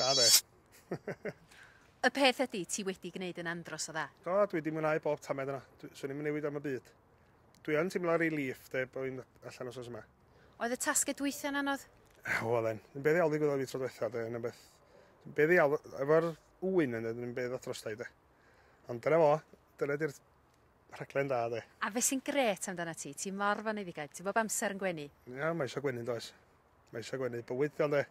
Da fe. y peth ydy, ti wedi gwneud yn andros o dda. Do, dwi wedi mwynhau bob tamed yna. Swn i'n newid am y byd. Dwi yn teimlo relief de bod fi'n allan os oes yma. Oedd y tasged dwytha'n anodd? O, oedd e'n. Yn beth iawn ddigwyddodd fi tro diwetha, de, yn beth. Yn beth iawn, efo'r ŵyn yn yn beth dros da i, de. Ond dyna fo, dyna di'r Rhaglen da de. A be sy'n grêt amdanat ti? Ti mor foneddigaid, ti bob amser yn gwenu. Ia, mae eisiau gwenu yn does. Mae eisiau gwenu bywyd diolch de.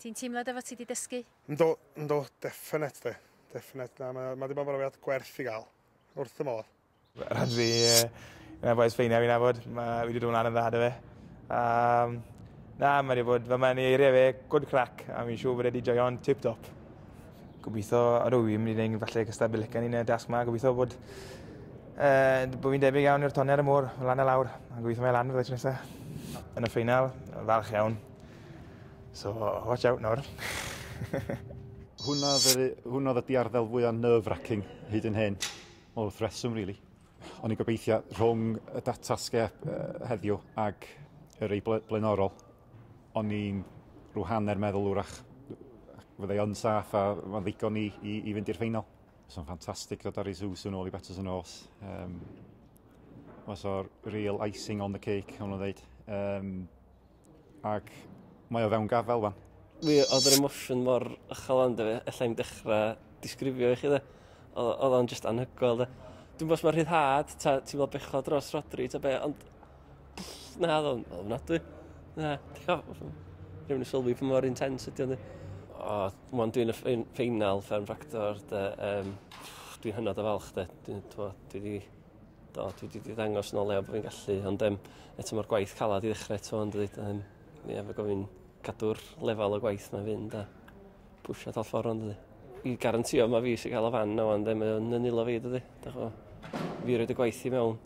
Ti'n teimlo dy fod ti wedi dysgu? Yndw, yndw, definate de. Definate, na, mae ma wedi bod yn brofiad gwerth i gael. Wrth y modd. Rhaid fi, un o'r bois ffeiniau fi'n nabod, ma, fi wedi dod mlaen yn dda da fe. Um, na, mae wedi bod, fe mae'n eiriau fe, good crack, a mi'n siŵr bod wedi joio'n tip-top. Gobeithio rwy i'n mynd i wneud falle cystad Bilican yn y dasg ma. Gobeithio bod, uh, bod fi'n debyg iawn i'r tonner y môr, lan a lawr. A gobeithio mae lan fydda tro nesaf. Yn y ffeinal, falch iawn. So, watch out nawr. hwna, hwna oedd y diarddel fwyaf nerve-wracking hyd yn hyn. O, wrth reswm, really. O'n i'n gobeithio rhwng y datasgep uh, heddiw ag yr ei blaenorol, O'n i'n rhyw hanner meddwl wrach fyddai yn saff a mae'n ddigon i, i, i fynd i'r ffeinal. Os o'n ffantastig dod ar ei sus yn ôl i Betters yn ôls. Um, Os o'r real icing on the cake, o'n nhw'n dweud. Um, ac mae o fewn gafael fan. Mi oedd yr emosiwn mor ychal ond efe, efallai i'n dechrau disgrifio i chi dde. Oedd o'n just anhygoel dde. Dwi'n bos mae rhyddhad, ti'n fel bechod dros Rodri, ta be, ond Na, oedd o'n ofnadwy. Na, rhywun yn sylwi pan mor intens ydy o'n O, mwyn dwi'n y ffeinal Fern Fractor, um, dwi'n hynod o falch, de. Dwi'n, dwi wedi do, dwi wedi ddangos yn o lew bod fi'n gallu, ond um, eto mae'r gwaith calad i ddechrau eto, ond dweud, um, ie, fe gofyn cadw'r lefel o gwaith mae'n fynd a pwysio tal ffordd ond dweud. I garantio mae fi sy'n cael o fan na ond ddim yn nilo fi, dweud, da chwa, fi roed y gwaith i mewn.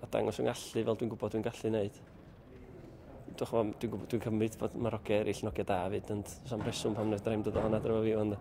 a dangos fy ngallu fel dwi'n gwybod dwi'n gallu wneud. Dwi'n chwa, dwi'n gwybod, dwi'n cymryd bod mae'r hogiau eraill yn hogiau da fyd, ond sam reswm pam wnaeth Dreim dod o hwnna dro fi ond...